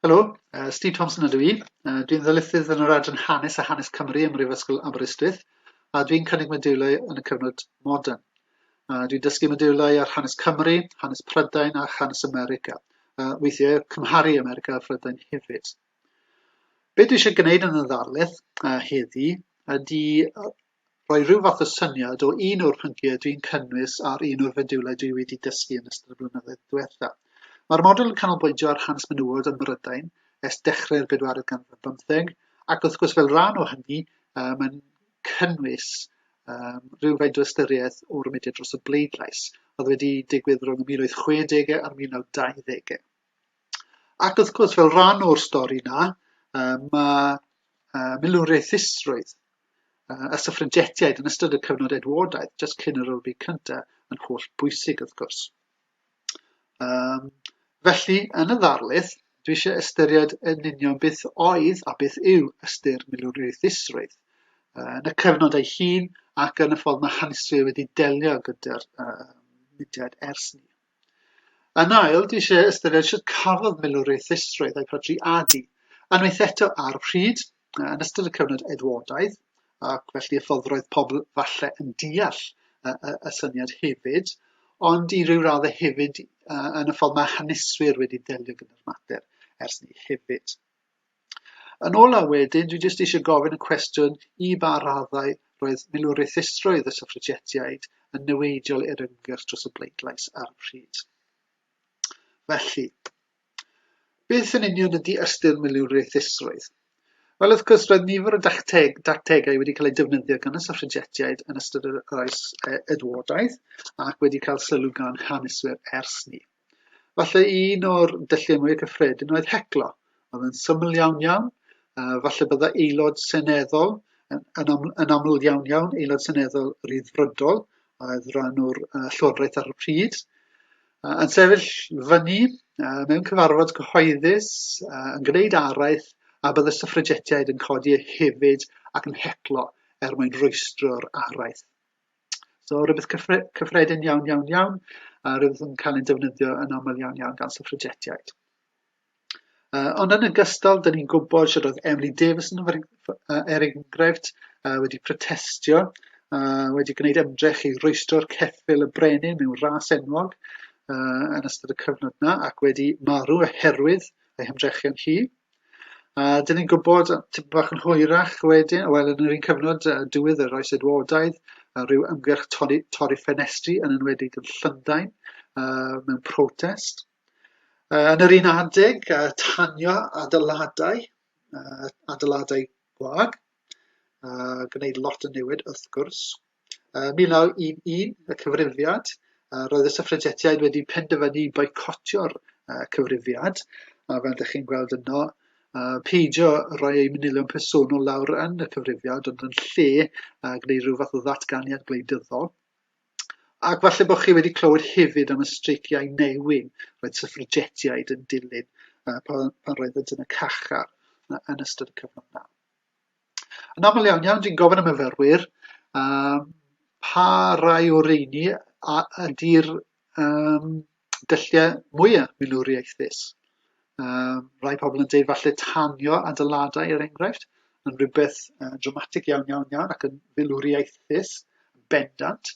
Helo, uh, Steve Thompson ydw i. Uh, dwi'n ddylysydd yn yr adran Hanes a Hanes Cymru ym Mhrifysgol Aberystwyth, a dwi'n cynnig modiwlau yn y cyfnod modern. Uh, dwi'n dysgu modiwlau ar hanes Cymru, hanes Prydain a hanes America. Uh, weithiau cymharu America a Phrydain hefyd. Be dwi eisiau gwneud yn y ddarlith uh, heddi ydy rhoi rhyw fath o syniad o un o'r pynciau dwi'n cynnwys ar un o'r fediwlau dwi wedi dysgu yn ystod y blynyddoedd diwetha. Mae'r model yn canolbwyntio ar hanes menywod ym Mhrydain ers dechrau'r bedwaredd ganrif bymtheg, ac wrth gwrs fel rhan o hynny, uh, mae'n cynnwys um, rhywfaint o ystyriaeth o'r mudiad dros y bleidlais, oedd wedi digwydd rhwng y 1860 a'r 1920au. Ac wrth gwrs, fel rhan o'r stori yna, mae uh, milwriaethusrwydd uh, y syffragetiaid yn ystod y cyfnod Edwardaidd, jyst cyn yr Olympic cyntaf, yn holl bwysig wrth gwrs. Um, felly, yn y ddarlith, dwi eisiau ystyried yn union beth oedd a beth yw ystyr milwriaethusrwydd uh, yn y cyfnod ei hun ac yn y ffordd mae haneswyr wedi delio gyda'r uh, mudiad ers ni. Yn ail, dwi eisiau ystyried sut cafodd milwriaeth ddistroedd a'i phrodi adi, unwaith eto ar pryd, yn ystod y cyfnod Edwardaidd, ac felly y ffordd roedd pobl falle yn deall y, y, y syniad hefyd, ond i ryw radd hefyd yn y ffordd mae haneswyr wedi delio gyda'r mater ers ni hefyd. Yn ola wedyn, dwi jyst eisiau gofyn y cwestiwn i ba raddau roedd milwriaethusrwydd y syffragetiaid yn niweidiol i'r ymgyrch dros y bleidlais ar y pryd. Felly, beth yn union ydy ystyr milwriaethusrwydd? Wel, wrth gwrs, roedd nifer o dacteg, dactegau wedi cael eu defnyddio gan y syffragetiaid yn ystod yr oes e, Edwardaeth ac wedi cael sylw gan haneswyr ers ni. Falle un o'r dylliau mwy cyffredin oedd heclo. Oedd yn syml iawn iawn. Uh, falle bydda aelod seneddol, yn, yn, am, yn aml iawn iawn, aelod seneddol ryddfrydol, oedd rhan o'r uh, llywodraeth ar y pryd, uh, yn sefyll fyny uh, mewn cyfarfod cyhoeddus, uh, yn gwneud araith, a bydd y syffragetiaid yn codi hefyd ac yn heclo er mwyn rwystro'r araith. So rhywbeth cyffre cyffredin iawn, iawn, iawn, a rhywbeth yn cael ei defnyddio yn aml iawn, iawn gan syffragetiaid. Uh, ond yn ogystal, dyn ni'n gwybod sydd oedd Emily Davis yn er enghraifft uh, wedi protestio, uh, wedi gwneud ymdrech i roestro'r ceffil y brenin mewn ras enwog uh, yn ystod y cyfnod yna ac wedi marw oherwydd ei hymdrechion hi. A dyn ni'n gwybod tipyn bach yn hwyrach wedyn, wel yn yr un cyfnod uh, diwedd yr oes Edwardaidd, uh, rhyw ymgyrch torri, torri ffenestri yn enwedig yn Llundain uh, mewn protest. Uh, yn yr un adeg, uh, tanio adeiladau, uh, adeiladau gwag, a gwneud lot o newid wrth gwrs. Ym 1911, y Cyfrifiad, roedd y Syffragetiaid wedi penderfynu boicotio'r Cyfrifiad, a fel ydych chi'n gweld yno, peidio rhoi eu manylion personol lawr yn y Cyfrifiad, ond yn lle gwneud rhyw fath o ddatganiad gwleidyddol. Ac falle bod chi wedi clywed hefyd am y streiciau newyn roedd syffragetiaid yn dilyn pan roeddent yn y cachar yn ystod y cyfnod yna. Yn aml iawn iawn, dwi'n gofyn am myfyrwyr, um, pa rai o reini a ydy'r um, dylliau mwyaf milwriaethus? Um, rai pobl yn dweud falle tanio adeiladau er enghraifft, yn rhywbeth uh, dramatig iawn iawn iawn ac yn filwriaethus, bendant,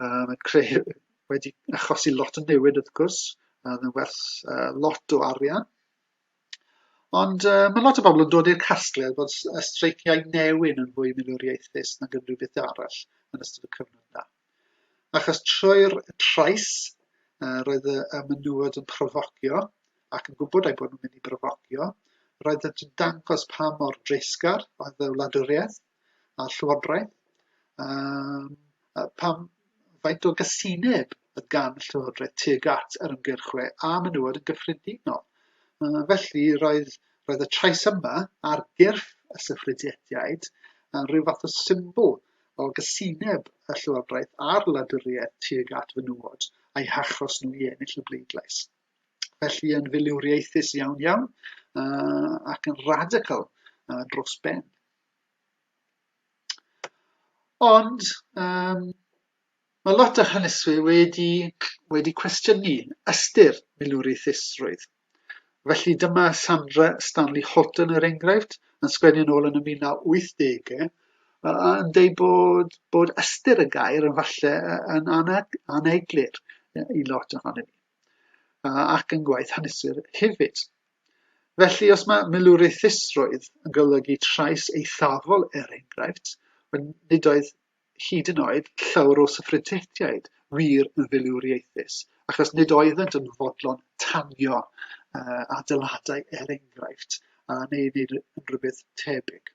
um, yn creu, wedi achosi lot o newid wrth gwrs, yn werth uh, lot o arian. Ond yy ma' lot o bobl yn dod i'r casgliad bod s- y streiciau newyn yn fwy milwriaethus nag unrhyw beth arall yn ystod y cyfnod yna. Achos trwy'r trais yy roedd y y menywod yn profocio ac yn gwybod eu bod nhw'n mynd i brofocio, roedd yn dangos pa mor dreisgar oedd y wladwriaeth, a Llywodraeth? Um, pam faint o gysineb y gan Llywodraeth tuag at yr ymgyrchwe a menywod yn gyffredinol? Uh, felly, roedd, roedd y trais yma ar gyrff y syffrediediaid yn rhyw fath o symbol o gysineb y Llywodraeth a'r wladwriaeth tuag at fenywod a'i hachos nhw i ennill y bleidlais felly yn filiwriaethus iawn iawn uh, ac yn radical uh, dros ben. Ond yym mae lot o haneswyr wedi wedi cwestiynu ystyr milwriaethusrwydd. Felly dyma Sandra Stanley Holton er enghraifft yn sgwennu yn ôl yn y mil naw wythdege yy a yn deud bod bod ystyr y gair yn falle yy yn ana- aneglur yy i lot ohonon ni. ac yn gwaith hanesir hefyd. Felly, os mae milwriaethusrwydd yn golygu trais eithafol er enghraifft, nid oedd hyd yn oed llawr o syffrydtiaid wir yn filwriaethus, achos nid oeddent yn fodlon tanio uh, adeiladau er enghraifft, a neu wneud rhywbeth tebyg.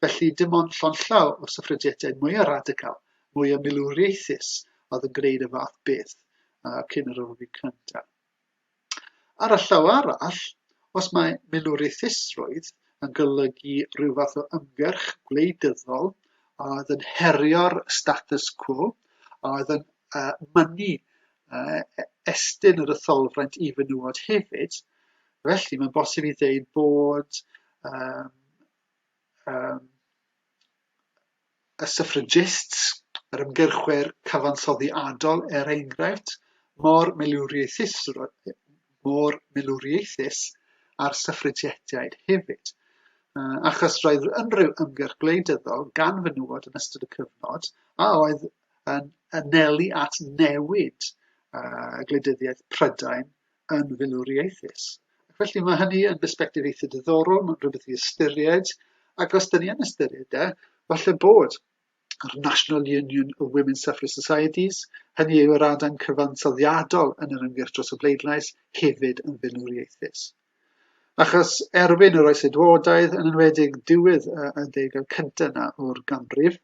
Felly, dim ond llond-llaw o syffrediadau mwyaf radical, mwyaf milwriaethus oedd yn gwneud y fath beth uh, cyn yr Olympiad Cyntaf. Ar y llaw arall, os mae milwriaethusrwydd yn golygu rhyw fath o ymgyrch gwleidyddol a oedd yn herio'r status quo, a oedd yn uh, mynnu uh, estyn yr etholfraint i fenywod hefyd, felly mae'n bosib i ddeud bod um, yym y suffragists, yr ymgyrchwyr cyfansoddiadol er enghraifft, mor milwriaethus mor milwriaethus â'r suffragiaid hefyd. Uh, achos roedd unrhyw ymgyrch gwleidyddol gan fenywod yn ystod y cyfnod a oedd yn anelu at newid uh, gwleidyddiaeth Prydain yn filwriaethus. Ac felly mae hynny yn bersbectif eitha diddorol, mae'n rhywbeth i ystyried, ac os dyn ni yn ystyried e, falle bod yr National Union of Women Suffrage Societies, hynny yw yr adain cyfansoddiadol yn yr ymgyrch dros y bleidlais, hefyd yn filwriaethus. Achos erbyn yr oes edwodaidd, yn enwedig diwedd y ddegau cyntaf yna o'r ganrif,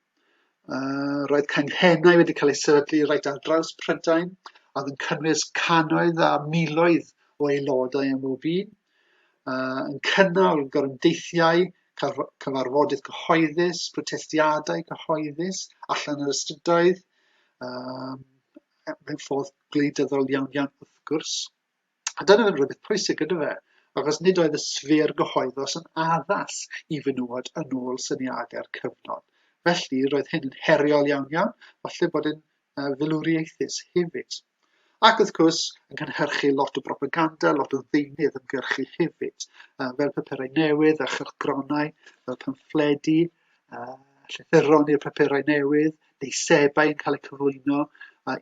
Uh, roedd canghennau wedi cael eu sefydlu reit ar draws Prydain, a oedd yn cynnwys canoedd a miloedd o aelodau am bob un, uh, yn cynnal gorymdeithiau, cyfarfodydd cyhoeddus, protestiadau cyhoeddus allan yr ystydoedd, um, mewn ffordd gwleidyddol iawn iawn wrth gwrs. A dyna oedd rhywbeth pwysig gyda fe, achos nid oedd y sffer gyhoeddus yn addas i fenywod yn ôl syniadau'r cyfnod. Felly, roedd hyn yn heriol iawn iawn, falle bod yn uh, filwriaethus hefyd. Ac wrth gwrs, yn cynhyrchu lot o propaganda, lot o ddeunydd ymgyrchu hefyd, fel papurau newydd a chylchgronau, fel pamffledi, a llythyron i'r papurau newydd, neu sebau yn cael eu cyflwyno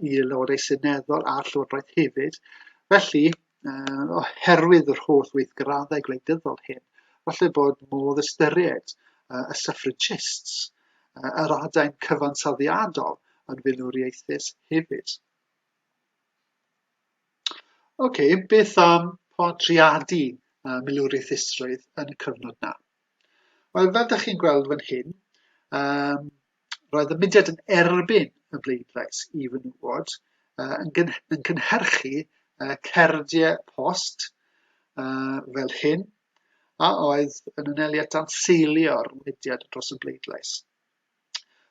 i Lywodau Seneddol a'r Llywodraeth hefyd. Felly, oherwydd yr holl weithgraddau gwleidyddol hyn, falle bod modd ystyried y suffragists, yr adain cyfansoddiadol yn filwriaethus hefyd. Oce, beth am portreadu milwriaethusrwydd yn y cyfnod 'na? Wel, fel da chi'n gweld fan hyn, um, roedd y mudiad yn erbyn y bleidlais i fenywod uh, yn, gyn yn cynhyrchu uh, cerdiau post uh, fel hyn, a oedd yn aneliad dan seilio'r mudiad dros y bleidlais.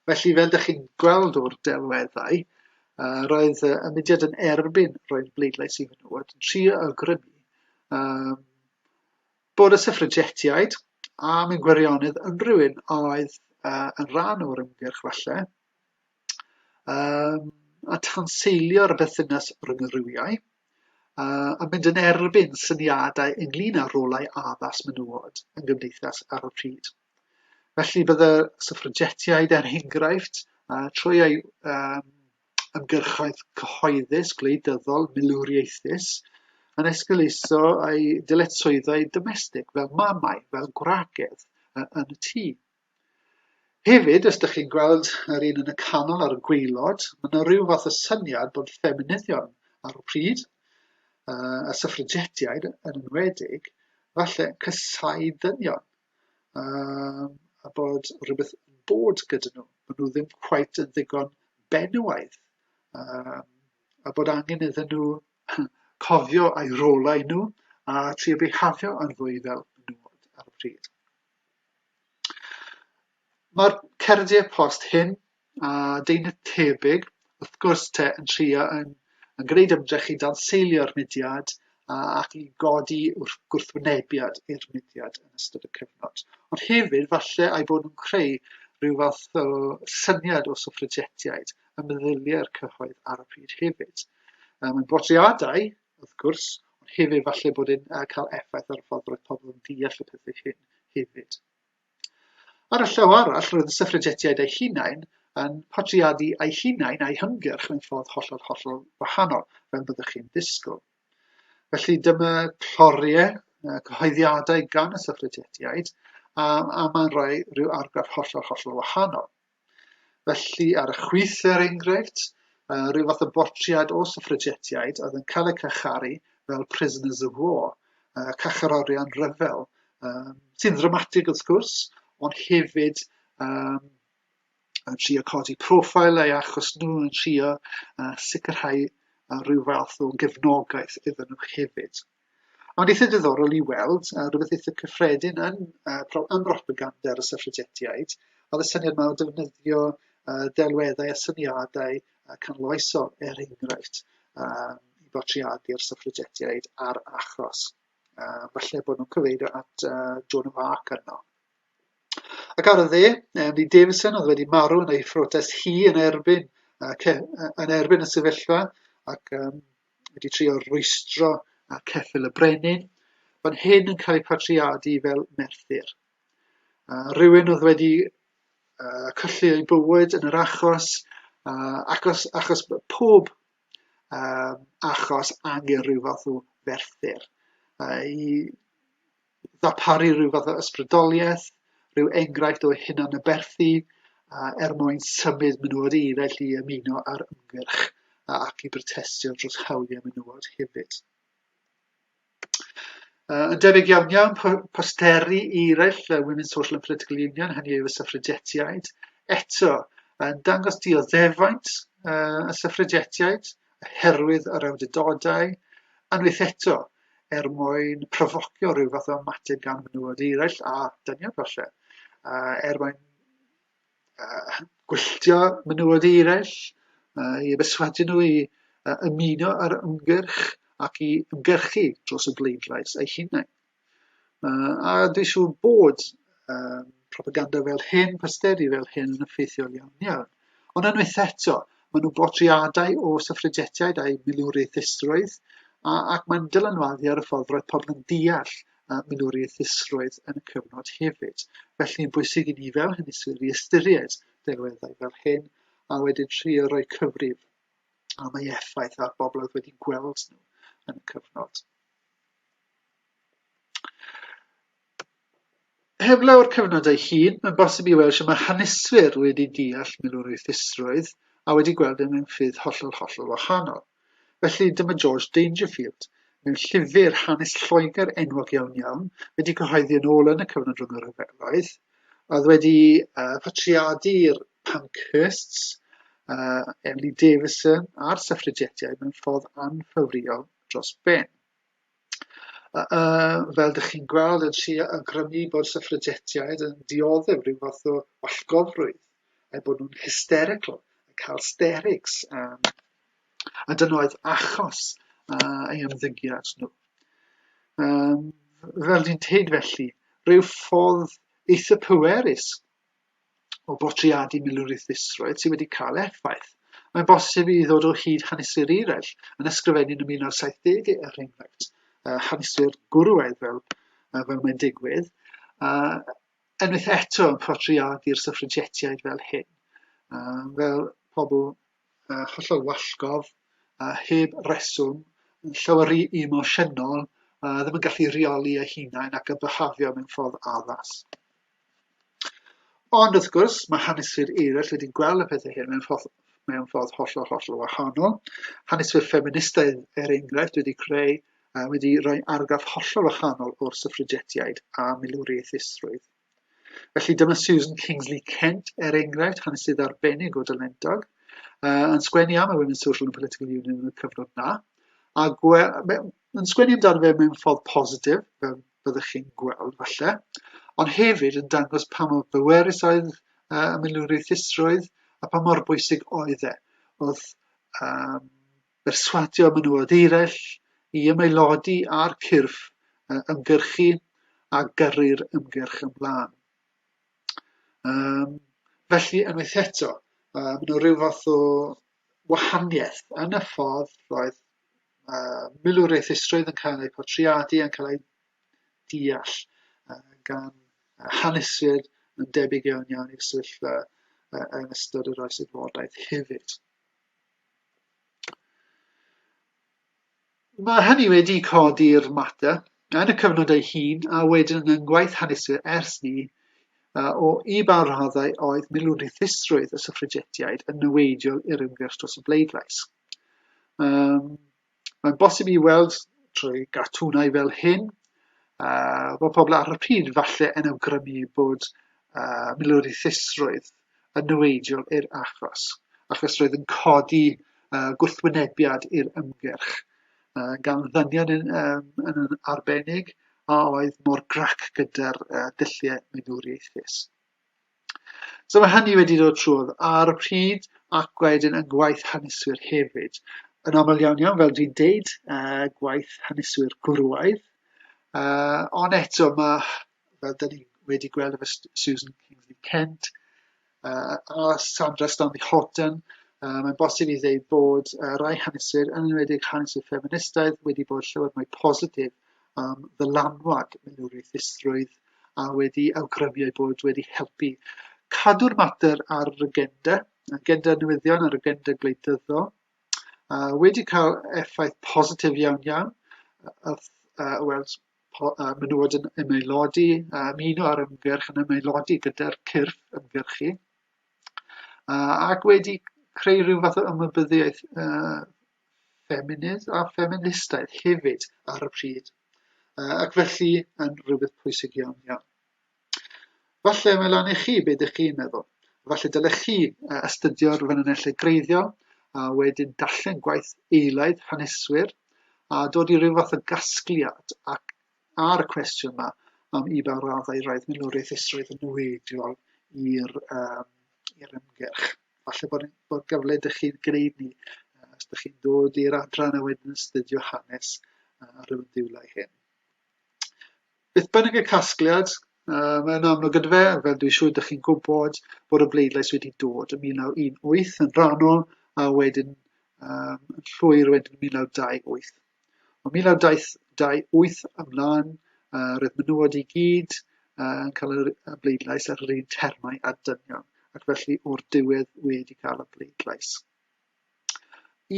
Felly, fel da chi'n gweld o'r delweddau, uh, roedd y mudiad yn erbyn roedd bleidlais i fenywod yn trio awgrymu um, Bod y syffragetiaid am ein gwirionedd unrhyw un oedd uh, yn rhan o'r ymgyrch falle, um, a tanseilio'r bethynas rhwng y rhywiau, uh, a mynd yn erbyn syniadau ynglyn â rolau addas menywod yn gymdeithas ar y pryd. Felly bydde syffragetiaid er enghraifft, uh, trwy eu um, ymgyrchoedd cyhoeddus, gwleidyddol, milwriaethus, yn esgeuluso ei dyletswyddau domestig fel mamau, fel gwragedd yn y tŷ. Hefyd, os ydych chi'n gweld yr un yn y canol ar y gweilod, mae yna rhyw fath o syniad bod ffeminyddion ar y pryd, a syffragetiaid yn enwedig, falle cysau dynion. um, a bod rhywbeth yn bod gyda nhw. Maen nhw ddim quite yn ddigon benywaidd. Um, a bod angen iddyn nhw cofio a'i rolau nhw a ti o behafio yn fwy fel menywod ar y pryd. Mae'r cerdiau post hyn a deunydd tebyg, wrth gwrs te, yn trio yn, yn gwneud ymdrech i danseilio'r mudiad a, ac i godi wrth gwrthwynebiad i'r mudiad yn ystod y cyfnod. Ond hefyd, falle ai bod nhw'n creu rhyw fath o syniad o suffragetiaid y meddyliau'r cyhoedd ar y pryd hefyd. Um, yn bodriadau, wrth gwrs, ond hefyd falle bod yn uh, cael effaith ar y ffordd roedd pobl yn deall y pethau hyn hefyd. Ar y llaw arall, roedd y syffragetiaid eu hunain yn portreadu eu hunain a'u hymgyrch mewn ffordd hollol, hollol wahanol, fel byddwch chi'n ddisgwyl. Felly dyma cloriau, cyhoeddiadau gan y syffragetiaid, a, a mae'n rhoi rhyw argraff hollol, hollol wahanol. Felly, ar y chwith, er enghraifft, uh, rhyw fath o bortread o syffragetiaid oedd yn cael eu cacharu fel prisoners of war, uh, cacherorion rhyfel, um, sy'n ddramatig wrth gwrs, ond hefyd um, yn trio codi profil ei achos nhw yn trio uh, sicrhau uh, rhyw fath o gefnogaeth iddyn nhw hefyd. Ond eitha diddorol i weld, uh, rhywbeth eitha cyffredin yn, uh, pro, yn propaganda ar y syffrigetiaid, oedd y syniad yma o defnyddio uh, delweddau a syniadau uh, canloesol, er enghraifft, uh, i bortreadu'r syffrigetiaid a'r achos. Uh, falle bod nhw'n cyfeirio at uh, Joan of Arc yno. Ac ar y dde, Emily Davison oedd wedi marw yn ei phrotest hi yn erbyn, uh, yn erbyn y sefyllfa ac um, wedi trio rwystro ar ceffyl y brenin, fan hyn yn cael ei patriadu fel Merthyr. Uh, rhywun oedd wedi uh, colli ei bywyd yn yr achos, uh, achos, achos pob uh, achos angen rhyw fath o ferthyr. Uh, I ddarparu rhyw fath o ysbrydoliaeth, rhyw enghraifft o hunanaberthu uh, er mwyn symud menywod eraill i ymuno ar ymgyrch ac i brotestio dros hawliau menywod hefyd. Uh, yn debyg iawn iawn, posteri eraill uh, Women's Social and Political Union, hynny yw y syffrigetiaid, eto yn dangos dioddefaint uh, y syffrigetiaid, oherwydd yr awdurdodau, unwaith eto, er mwyn profocio rhyw fath o ymateb gan fenywod eraill a dynion falle, uh, er mwyn uh, gwylltio menywod eraill, uh, i beswadu nhw i uh, ymuno ar ymgyrch ac i ymgyrchu dros y bleidlais ei hunain. Uh, a dwi'n siŵr bod uh, propaganda fel hyn, posteri fel hyn yn effeithiol iawn iawn. Ond unwaith eto, maen nhw'n bortreadau o syffredietiaid a'u milwriaethusrwydd, ac mae'n dylanwadu ar y ffordd roedd pobl yn deall milwriaethusrwydd yn y cyfnod hefyd. Felly, yn bwysig i ni fel hyniswyr i ystyried delweddau fel hyn, a wedyn trio rhoi cyfrif am ei effaith ar bobl oedd wedi gweld nhw yn y cyfnod. Heblaw'r cyfnod ei hun, mae'n bosib i weld sut mae haneswyr wedi deall milwrwythrwydd a wedi gweld e mewn ffyrdd hollol, hollol wahanol. Felly, dyma George Dangerfield, mewn llyfr hanes Lloegr enwog iawn iawn, wedi cyhoeddi yn ôl yn y cyfnod rhwng y rhyfeloedd, oedd wedi uh, patriadu i'r Pankhursts, uh, Emily Davison a'r syffrigetiaid mewn ffordd anffafriol dros ben. fel dych chi'n gweld, yn trio awgrymu bod syffragetiaid yn dioddef rhyw fath o wallgofrwydd, eu bod nhw'n hysterical, yn cael sterics, um, a dyna oedd achos uh, ei ymddygiad nhw. Um, fel dwi'n teud felly, rhyw ffordd eitha pwerus o bortreadu milwriaethusrwydd sydd wedi cael effaith. Mae'n bosib i ddod o hyd haneswyr eraill yn ysgrifennu'n y 1970au er enghraifft, uh, haneswyr gwrywaidd fel, uh, fel mae'n digwydd, uh, enwaith eto yn portreadu'r syffrigetiaid fel hyn, uh, fel pobl uh, hollol wallgof, uh, heb reswm, yn llawer rhy emosiynol, uh, ddim yn gallu rheoli eu hunain ac yn byhafio mewn ffordd addas. Ond, wrth gwrs, mae haneswyr eraill wedi gweld y pethau hyn mewn ffordd, mewn ffordd hollol, hollol wahanol. Haneswyr ffeministaidd, er enghraifft, wedi creu, uh, wedi rhoi argraff hollol wahanol o'r syffrigetiaid a milwriaethusrwydd. Felly dyma Susan Kingsley Kent, er enghraifft, hanesydd arbennig o dylendog, uh, yn sgwennu am y Women's Social and Political Union yn y cyfnod na, a yn sgwennu amdano fe mewn ffordd positif, fel fyddwch chi'n gweld falle, ond hefyd yn dangos pa mor bwerus oedd uh, y milwriaethusrwydd a pa mor bwysig oedd e. Oedd um, berswadio menywod eraill i ymaelodi ar cyrff uh, ymgyrchu a gyrru'r ymgyrch ymlaen. Um, felly, unwaith eto, uh, mae yna rhyw fath o wahaniaeth yn y ffordd roedd uh, milwriaethusrwydd yn cael eu portreadu, yn cael eu deall uh, gan haneswyr yn debyg iawn iawn i'r sefyllfa uh, yn ystod yr oes adfodaeth hefyd. Mae hynny wedi codi'r mater yn y cyfnod ei hun a wedyn yn ngwaith haneswyr ers 'ny, o i ba raddau oedd milwrithusrwydd y syffragetiaid yn niweidiol i'r ymgyrch dros y bleidlais. Um, mae'n bosib i weld trwy gartwnau fel hyn, uh, bod pobl ar y pryd falle yn awgrymu bod uh, milwrithusrwydd yn niweidiol i'r achos, achos roedd yn codi uh, gwrthwynebiad i'r ymgyrch. uh, gan ddynion yn, um, yn, yn arbennig a oedd mor grac gyda'r uh, dulliau meddwriaethus. So mae hynny wedi dod trwodd ar y pryd ac wedyn yn gwaith haneswyr hefyd. Yn aml iawn iawn, fel dwi'n deud, uh, gwaith haneswyr gwrwaidd. Uh, ond eto mae, fel dyn ni wedi gweld efo Susan Kingsley Kent, uh, a Sandra Stanley Horton, uh, mae'n bosib i ddeud bod uh, rai haneswyr, yn enwedig haneswyr ffeministaidd, wedi bod llawer mwy positif am ddylanwad milwriaethusrwydd a wedi awgrymu ei bod wedi helpu cadw'r mater ar yr agenda, agenda newyddion a'r agenda gwleidyddol, uh, wedi cael effaith positif iawn iawn, uh, uh, wel, menywod yn ymaelodi, a ymuno ar ymgyrch yn ymaelodi gyda'r cyrff ymgyrchu, uh, ac wedi creu rhyw fath o ymwybyddiaeth uh, ffeminydd a ffeministaidd hefyd ar y pryd, uh, ac felly yn rhywbeth pwysig iawn iawn. Falle mae lan i chi be dych chi'n meddwl. Falle dylech chi uh, astudio'r ffynonellau greiddiol a wedyn darllen gwaith eilaidd haneswyr a dod i ryw fath o gasgliad ac ar y cwestiwn yma am i ba raddau roedd milwriaeth isroedd yn niweidiol i'r um, i'r ymgyrch. Falle bod, bod gyfle dych chi'n gwneud ni uh, os dych chi'n dod i'r adran a wedyn astudio hanes uh, ar y diwlau hyn. Beth bynnag y casgliad, uh, mae'n amlwg yn fe, fel dwi'n siŵr ydych chi'n gwybod, bod y bleidlais wedi dod yn 1918 yn rhannol a wedyn um, llwyr wedyn 1928. O 1928 ymlaen, uh, roedd menywod i gyd uh, yn cael y bleidlais ar yr un termau a dynion, ac felly o'r diwedd wedi cael y bleidlais.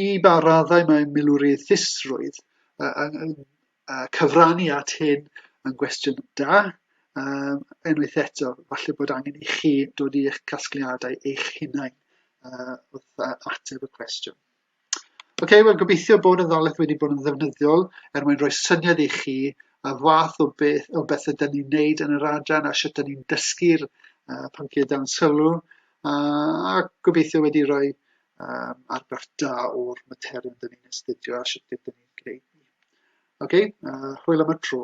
I ba raddau mae milwriaethusrwydd yn cyfrannu at hyn yn gwestiwn da. Yym, unwaith eto, falle bod angen i chi dod i eich casgliadau eich hunain uh, wrth uh, ateb y cwestiwn. Oce, okay, wel gobeithio bod y ddalaeth wedi bod yn ddefnyddiol er mwyn rhoi syniad i chi y fath o beth o beth ydyn ni'n wneud yn yr adran a sut ydyn ni'n dysgu'r uh, pynciau dan sylw. a gobeithio wedi rhoi um, argraff da o'r materion dyn ni'n astudio a sut dyn ni'n gwneud ni. Oce, okay, uh, hwyl am y tro.